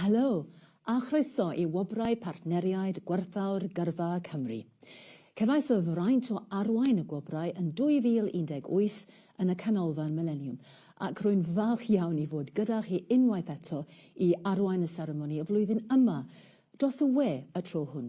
Helo, a chroeso i Wobrau Partneriaid Gwerthfawr Gyrfa Cymru. Cefais y fraint o arwain y gwobrau yn 2018 yn y Canolfan Mileniwm, ac rwy'n falch iawn i fod gyda chi unwaith eto i arwain y seremoni y flwyddyn yma, dros y we y tro hwn.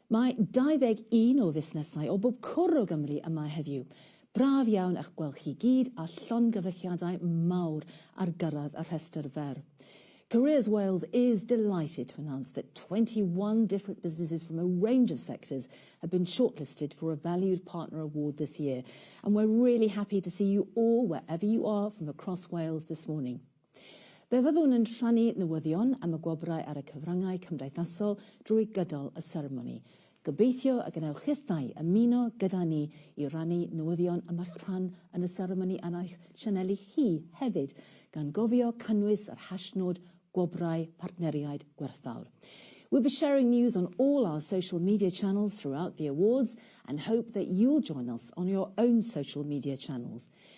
Mae 21 o fusnesau o bob cwr o Gymru yma heddiw. Braf iawn eich gweld chi gyd a llongyfarchiadau mawr ar gyrraedd y rhestr fer. Careers Wales is delighted to announce that 21 different businesses from a range of sectors have been shortlisted for a Valued Partner Award this year and we're really happy to see you all wherever you are from across Wales this morning. Fe fyddwn yn rhannu newyddion am y gwobrau ar y cyfryngau cymdeithasol drwy gydol y seremoni. Gobeithio y gwnewch hithau ymuno gyda ni i rannu newyddion am eich rhan yn y seremoni ar eich sianeli chi hefyd, gan gofio cynnwys yr hashnod Gwobrau Partneriaid Gwerthfawr. We'll be sharing news on all our social media channels throughout the awards and hope that you'll join us on your own social media channels.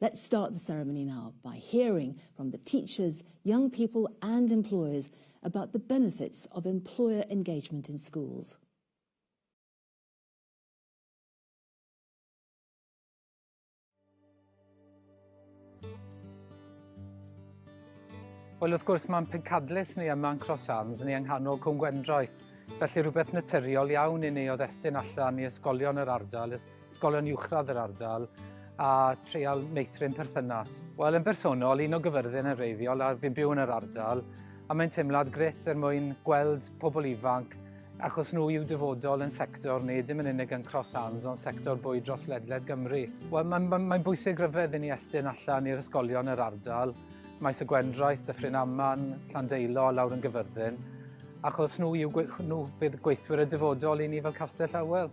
Let's start the ceremony now by hearing from the teachers, young people and employers about the benefits of employer engagement in schools. Wel wrth gwrs mae'n pencadlys ni yma yn Cross Arms ni yng nghanol Cwm Gwendroi. Felly rhywbeth naturiol iawn i ni o ddestun allan i ysgolion yr ardal ysgolion uwchradd yr ardal a treial meithrin perthynas. Wel, yn bersonol, un o gyfyrddin yn reiddiol a fi'n byw yn yr ardal a mae'n teimlad gret er mwyn gweld pobl ifanc achos nhw yw dyfodol yn sector ni, dim yn unig yn Cross Arms ond sector bwyd dros ledled Gymru. Wel, mae'n mae, mae bwysig ryfedd i ni estyn allan i'r ysgolion yr ardal, Maes y Gwendraeth, Dyffryn Aman, Llandeilo, lawr yn Gyfyrddin, achos nhw, yw, nhw fydd gweithwyr y dyfodol i ni fel Castell Awel.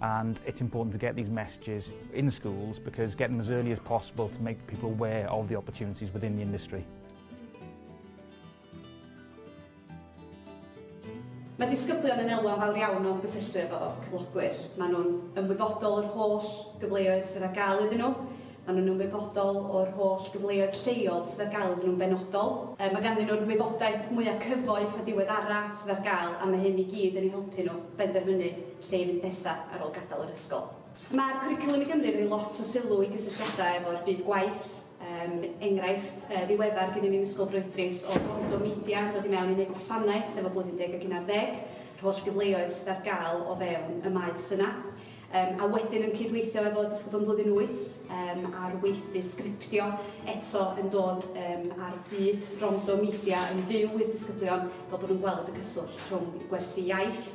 and it's important to get these messages in schools because getting them as early as possible to make people aware of the opportunities within the industry. Mae disgyblion yn elwa fawr iawn o'n gysylltu efo cyflogwyr. Mae nhw'n ymwybodol o'r holl gyfleoedd sydd ar gael iddyn nhw. Mae nhw'n ymwybodol o'r holl gyfleoedd lleol sydd ar gael iddyn nhw'n benodol. E, mae ganddyn nhw'r wybodaeth mwyaf cyfoes a diweddara sydd ar gael a mae hyn i gyd yn ei helpu nhw benderfynu lle i fynd nesaf ar ôl gadael yr ysgol. Mae'r Cwricwlwm i Gymru yn rhoi lot o sylw i gysylltiadau efo'r byd gwaith, um, enghraifft uh, ddiweddar gen i'n Ysgol Broedrys o Bordo Media yn dod i mewn i wneud gwasanaeth efo blwyddyn deg ac unarddeg, yr holl gyfleoedd sydd ar gael o fewn y maes yna. Um, a wedyn yn cydweithio efo Dysgwb yn Blwyddyn 8 um, ar weithdy sgriptio eto yn dod um, ar byd rondo media yn fyw i'r disgyblion fel bod nhw'n gweld y cyswllt rhwng gwersi iaith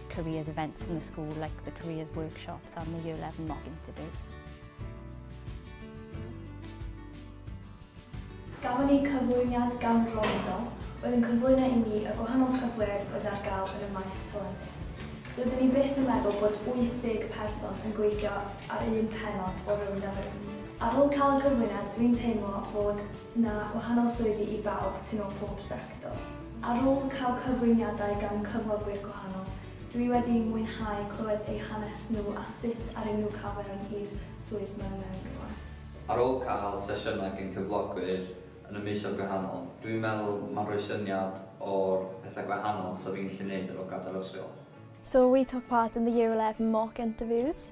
careers events in the school like the careers workshops and the year 11 mock interviews. Gafon ni cyflwyniad gan Rhonda, oedd yn cyflwyno i ni y gwahanol cyfleoedd oedd ar gael yn y maes teledu. Rydyn ni byth yn meddwl bod 80 person yn gweithio ar un penod o Rownd Ar Ar ôl cael y cyflwyniad, dwi'n teimlo fod Na, wahanol swyddi i bawb, tu mewn pob sector. Ar ôl cael cyflwyniadau gan cyflogwyr gwahanol, dw i wedi mwynhau clywed eu hanes nhw a sut aru nhw cael mewn i'r swydd mae mewn rwan. Ar ôl cael sesiynau gan gyflogwyr yn y misoedd gwahanol, dw i'n meddwl mae'n rhoi syniad o'r pethau gwahanol 'sa fi'n gallu neud ar ôl gadael ysgol. So we took part in the year eleven mock interviews.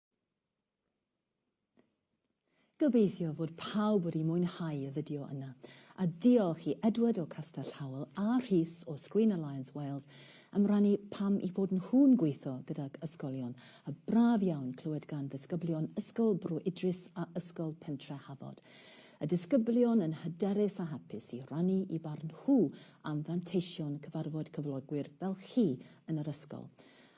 Gobeithio fod pawb wedi mwynhau y fideo yna, a diolch i Edward o Castell Howell a Rhys o Screen Alliance Wales am rannu pam eu bod nhw'n gweithio gydag ysgolion, a braf iawn clywed gan ddisgyblion Ysgol Bro Idris a Ysgol Pentre Hafod. Y disgyblion yn hyderus a hapus i rannu eu barn nhw am fanteision cyfarfod cyflogwyr fel chi yn yr ysgol.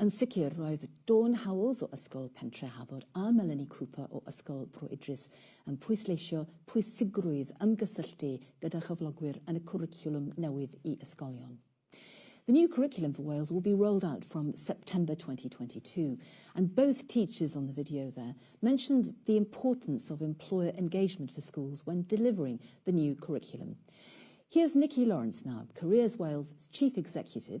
Yn sicr, roedd Dawn Howells o Ysgol Pentre Hafod a Melanie Cooper o Ysgol Bro Idris yn pwysleisio pwysigrwydd ymgysylltu gyda chyflogwyr yn y cwricwlwm newydd i ysgolion. The new curriculum for Wales will be rolled out from September 2022 and both teachers on the video there mentioned the importance of employer engagement for schools when delivering the new curriculum. Here's Nikki Lawrence now, Careers Wales' Chief Executive,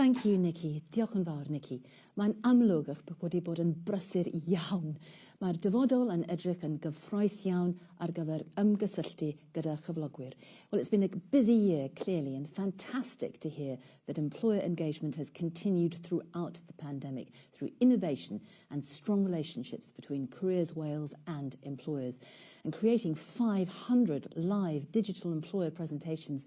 Thank you Nikki, diolch yn fawr Nikki. Mae'n amlwg eich bod wedi bod yn brysur iawn. Mae'r dyfodol yn edrych yn gyffroes iawn ar gyfer ymgysylltu gyda chyflogwyr. Well it's been a busy year clearly and fantastic to hear that employer engagement has continued throughout the pandemic through innovation and strong relationships between Careers Wales and employers and creating 500 live digital employer presentations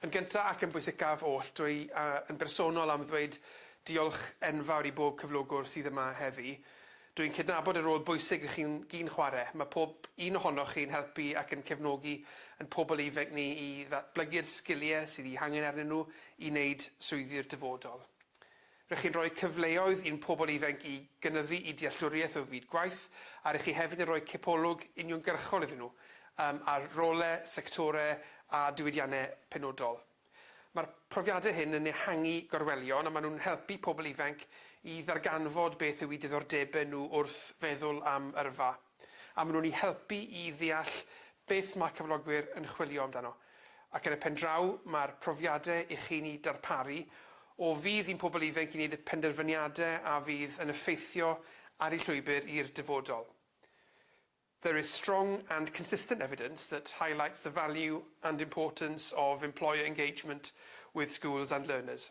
Yn gyntaf ac yn bwysicaf oll, dw i yn bersonol am ddweud diolch enfawr i bob cyflogwr sydd yma heddi. Dw i'n cydnabod y rôl bwysig rŷch chi'n gyn chwarae. Mae pob un ohonoch chi yn helpu ac yn cefnogi ein pobl ifainc ni i ddatblygu'r sgiliau sydd eu hangen arnyn nhw i wneud swyddi'r dyfodol. Rŷch chi'n rhoi cyfleoedd i'n pobl ifainc i gynyddu'u dealltwriaeth o fyd gwaith, a rŷch chi hefyd yn rhoi cipolwg uniongyrchol iddyn nhw um, ar rolau, sectorau a diwydiannau penodol. Mae'r profiadau hyn yn ehangu gorwelion a maen nhw'n helpu pobl ifainc i ddarganfod beth yw eu diddordebau nhw wrth feddwl am yrfa. a maen nhw'n ei helpu i ddeall beth mae cyflogwyr yn chwilio amdano, ac yn y pendraw mae'r profiadau i chi'n eu darparu o fudd i'n pobl ifainc i wneud y penderfyniadau a fydd yn effeithio ar eu llwybr i'r dyfodol. There is strong and consistent evidence that highlights the value and importance of employer engagement with schools and learners.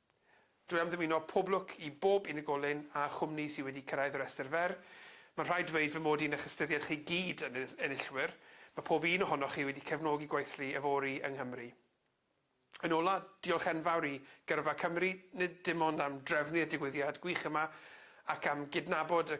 Drwy amddiwyno pob lwc i bob unigolyn a chwmni sydd wedi cyrraedd y rhestr fer, mae'n rhaid dweud fy mod i'n eich ystyried chi gyd yn enillwyr, mae pob un ohonoch chi wedi cefnogi gweithlu yfory yng Nghymru. Yn ola, diolch enfawr i Gyrfa Cymru, nid dim ond am drefnu'r digwyddiad gwych yma ac am gydnabod y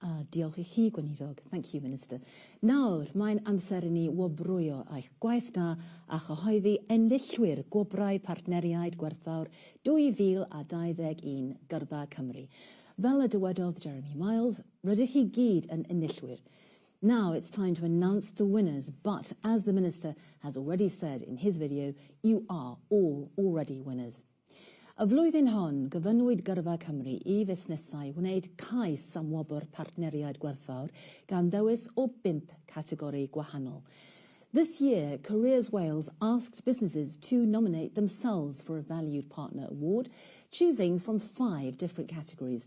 A diolch i chi, Gweinidog. Thank you, Minister. Nawr, mae'n amser i ni wobrwyo eich gwaith da a chyhoeddi enillwyr Gwobrau Partneriaid Gwerthfawr 2021 Gyrfa Cymru. Fel y dywedodd Jeremy Miles, rydych chi gyd yn enillwyr. Now it's time to announce the winners, but as the Minister has already said in his video, you are all already winners. Y flwyddyn hon, gofynnwyd Gyrfa Cymru i fusnesau wneud cais am wobr Partneriaid Gwerthfawr gan ddewis o bump categori gwahanol. This year, Careers Wales asked businesses to nominate themselves for a Valued Partner Award, choosing from five different categories.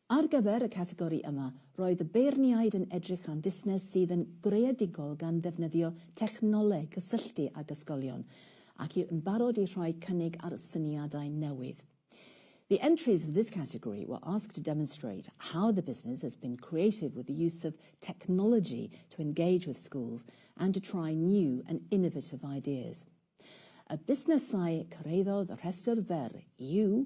Ar gyfer y categori yma, roedd y beirniaid yn edrych am fusnes sydd yn greadigol gan ddefnyddio technoleg cysylltu ag ysgolion ac yw yn barod i rhoi cynnig ar syniadau newydd. The entries for this category were asked to demonstrate how the business has been creative with the use of technology to engage with schools and to try new and innovative ideas. Y busnesau cyrhaeddodd y rhestr fer yw.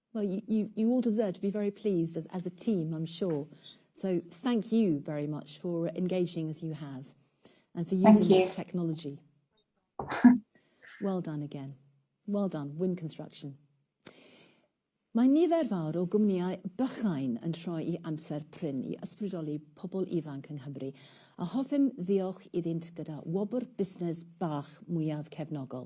Well, you, you, you all deserve to be very pleased as, as a team, I'm sure. So thank you very much for engaging as you have and for using you. that technology. well done again. Well done, Wynne Construction. Mae nifer fawr o gwmnïau bychain yn troi i amser prin i ysbrydoli pobl ifanc yng Nghymru, a hoffem ddiolch iddynt gyda wobr busnes bach mwyaf cefnogol.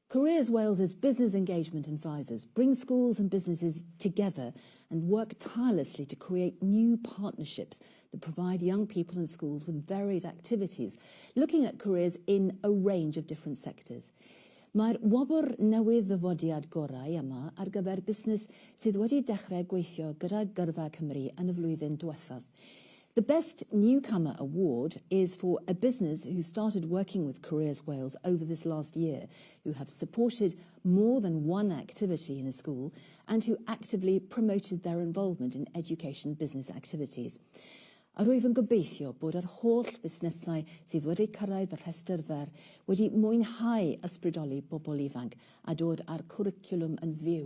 Careers Wales' Business Engagement Advisors bring schools and businesses together and work tirelessly to create new partnerships that provide young people and schools with varied activities, looking at careers in a range of different sectors. Mae'r wobr newydd Ddyfodiad Gorau yma ar gyfer busnes sydd wedi dechrau gweithio gyda Gyrfa Cymru yn y flwyddyn diwethaf. The Best Newcomer award is for a business who started working with Careers Wales over this last year, who have supported more than one activity in a school and who actively promoted their involvement in education business activities. A rwyf yn gobeithio bod yr holl fusnesau sydd wedi cyrraedd y rhestr fer wedi mwynhau ysbrydoli bobl ifanc a dod â'r cwricwlwm yn fyw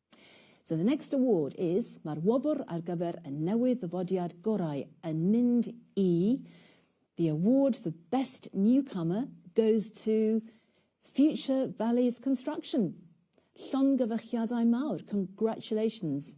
So the next award is, mae'r wobr ar gyfer y newydd ddyfodiad gorau yn mynd i, the award for best newcomer goes to Future Valleys Construction. Llongyfarchiadau mawr, congratulations.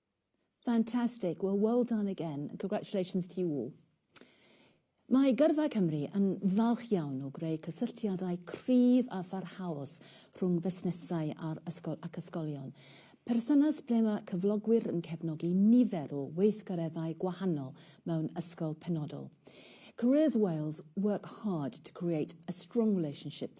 Fantastic, wel well done again, and congratulations to you all. Mae Gyrfa Cymru yn falch iawn o greu cysylltiadau cryf a pharhaus rhwng fusnesau a'r ysgol ac ysgolion, perthynas ble mae cyflogwyr yn cefnogi nifer o weithgareddau gwahanol mewn ysgol penodol. Careers Wales work hard to create a strong relationship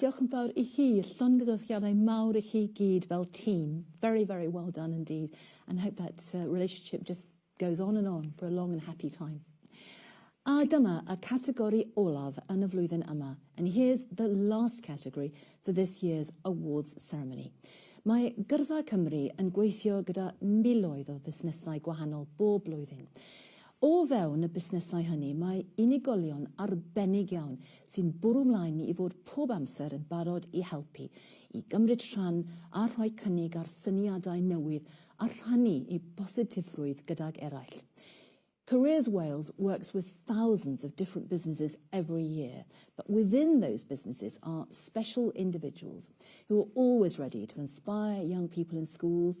Diolch yn fawr i chi, llongyfarchiadau mawr i chi gyd fel tîm. Very, very well done indeed and hope that relationship just goes on and on for a long and happy time. A dyma y categori olaf yn y flwyddyn yma and here's the last category for this year's awards ceremony. Mae Gyrfa Cymru yn gweithio gyda miloedd o fusnesau gwahanol bob blwyddyn. O fewn y busnesau hynny mae unigolion arbennig iawn sy'n bwrw 'mlaen ni i fod pob amser yn barod i helpu, i gymryd rhan a rhoi cynnig ar syniadau newydd a rhannu eu positifrwydd gydag eraill. Careers Wales works with thousands of different businesses every year, but within those businesses are special individuals who are always ready to inspire young people in schools,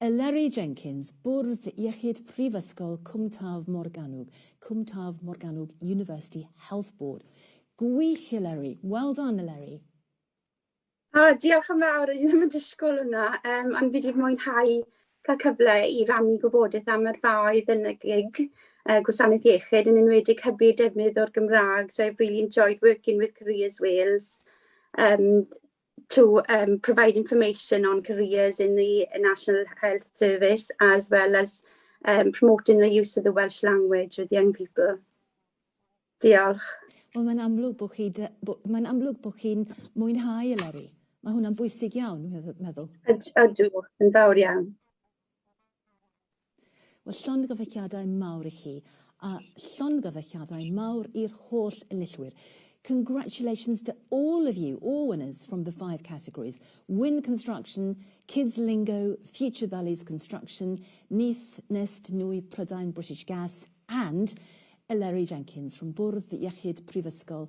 Eleri Jenkins, Bwrdd Iechyd Prifysgol Cwm Taf Morgannwg, Cwm Taf Morgannwg University Health Board. Gwych Eleri! Well done Eleri! O, diolch yn fawr, o'n i ddim yn disgwyl hwnna, um, ond fi wedi mwynhau cael cyfle i rannu gwybodaeth am yr faoedd yn y gig uh, gwasanaeth iechyd, yn enwedig hybu defnydd o'r Gymraeg, so I've really enjoyed working with Careers Wales. Um, to um, provide information on careers in the National Health Service as well as um, promoting the use of the Welsh language with young people. Diolch. Wel, mae'n amlwg bod chi, mae'n amlwg bod chi'n mwynhau y lori. Mae hwnna'n bwysig iawn, meddwl. Ydw, yn fawr iawn. Wel, llongyfarchiadau mawr i chi, a llongyfarchiadau mawr i'r holl enillwyr. Congratulations to all of you, all winners from the five categories, Wynne Construction, Kids Lingo, Future Valleys Construction, Neath Nest Nwy Prydain British Gas and Eleri Jenkins from Bwrdd Iechyd Prifysgol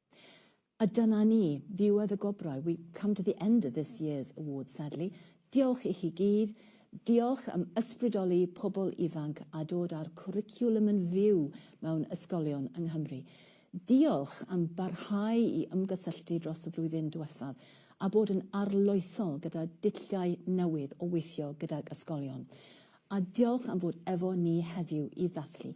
A dyna ni, ddiwedd y gwobrau, we come to the end of this year's awards sadly. Diolch i chi gyd, diolch am ysbrydoli pobl ifanc a dod â'r cwricwlwm yn fyw mewn ysgolion yng Nghymru. Diolch am barhau i ymgysylltu dros y flwyddyn diwethaf a bod yn arloesol gyda dulliau newydd o weithio gydag ysgolion. A diolch am fod efo ni heddiw i ddathlu